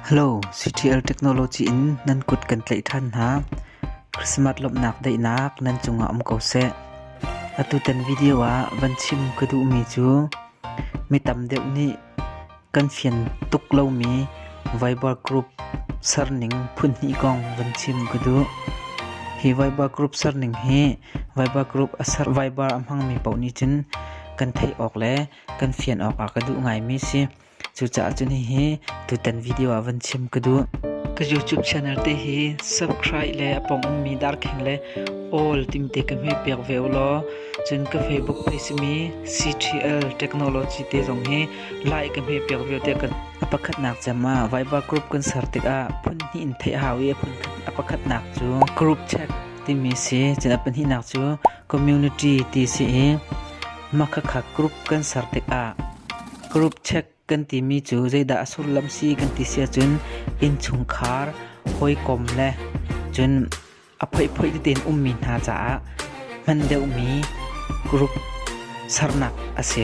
Hello, CTL Technology in nan kut kan tlaih ṭhan hna. Christmas lawmhnak daihnak nan cungah um ko seh. Atutan video ah van chim ka duhmi cu mi tam deuh nih kan fian tuk lomi Viber group serning phunhnih kong van chim ka duh. Hi Viber group serning hi Viber group a ser Viber a hmangmi paoh nih cun kan theih awk le kan fian awk ah ka duh ngaimi si. Cucaah cun hihi tutan video ah van chim ka duh. Ka YouTube channel te hi subscribe le a pong ummi darkheng le all timte ka hme piak ve u law cun ka Facebook page simi CTL Technology te zong hi like ka hme piak ve te kan a pakhatnak cem ah Viva Group kan ser tikah phun hnih in theih hau i a phun khat a pakhatnak cu group chat timi si cun a pahnihnak cu community ti si i hmakhakkhat group kan ser tikah group check kan timi cu zeidah a sullam si kan ti si ahcun innchungkhar hawikom le cun a phoihphoih tete in ummi hna caah hman deuhmi group sernak a si.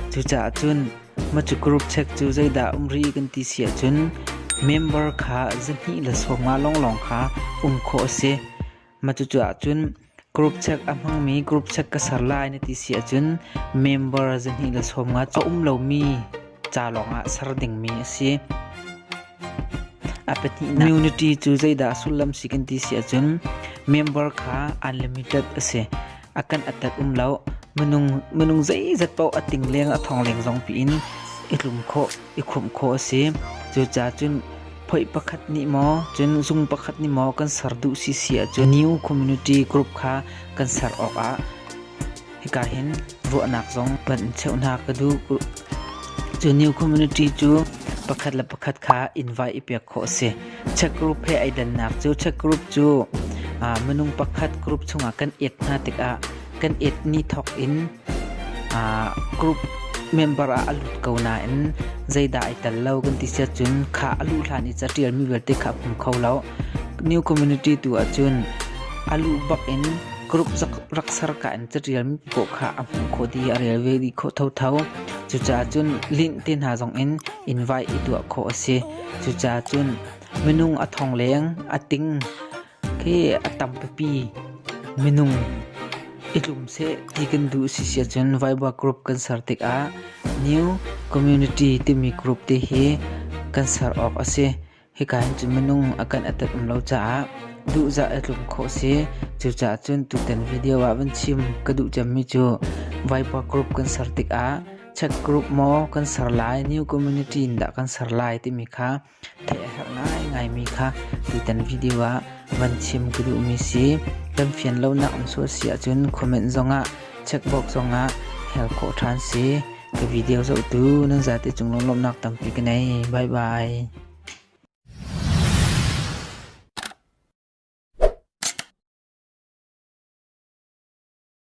Cucaah cun macu group check cu zeidah um rih kan ti si ahcun member kha zahnih le sawmnga lawnglawng kha um khawh a si. Cucu ahcun group check a hmangmi group check ka ser lai na ti si ahcun member zahnih le sawm nga cu a um lomi ca lawngah ser dingmi a si. A pahnihnak community cu zeidah sullam si kan ti si ahcun member kha unlimited a si. A kan attat um lo. Minung, minung zeizat paoh a ting leng a thong leng zong piin i tlum khawh, i khumh khawh a si. Cucaah cun phoih pakhat nih maw, cun zung pakhat nih maw kan ser duh si si ahcun New Community Group kha kan ser awkah hika hin ruahnak zong kan in cheuhnak ka duh. Cu New Community cu pakhat le pakhat kha invite i pek khawh a si. Check group he ai dannak cu check group cu uh, minung pakhat group chungah kan et hna tikah kan et ni thawk in uh, group member ah a lut ko nain zeidah ai tel lo kan ti siat cun kha a luh hlan i catial mi vialte kha a hmu kho lo new community tu ahcun a lu bak in group rak ser ka in catial mi ko kha a hmu kho di a rel ve di kho tho tho cucaah cun link te hna zong in invite i tuah kho a si Cucacun minung a thongleng a ting khi a tam pipi minung i tlum seh ti kan duh si siahcun Vaiva Group kan ser tikah New Community timi group te hi kan ser awk a si. Hika hin cun minung a kan atat um lo caah duhzah a tlum khawh si. Cucacun tutan video ah van chim ka duh cemmi cu Vaiva Group kan ser tikah Check group maw kan ser lai, new community in dah kan ser lai timi kha theih a herh ngaingaimi kha tutan video ah van chim ka duhmi si. Kan fian lonak an suah si ahcun comment zongah checkbox zongah hel khawh ṭhan si. Ka video zohtu nan zate cung lunglawmhnak tampi ka nei. Bye bye.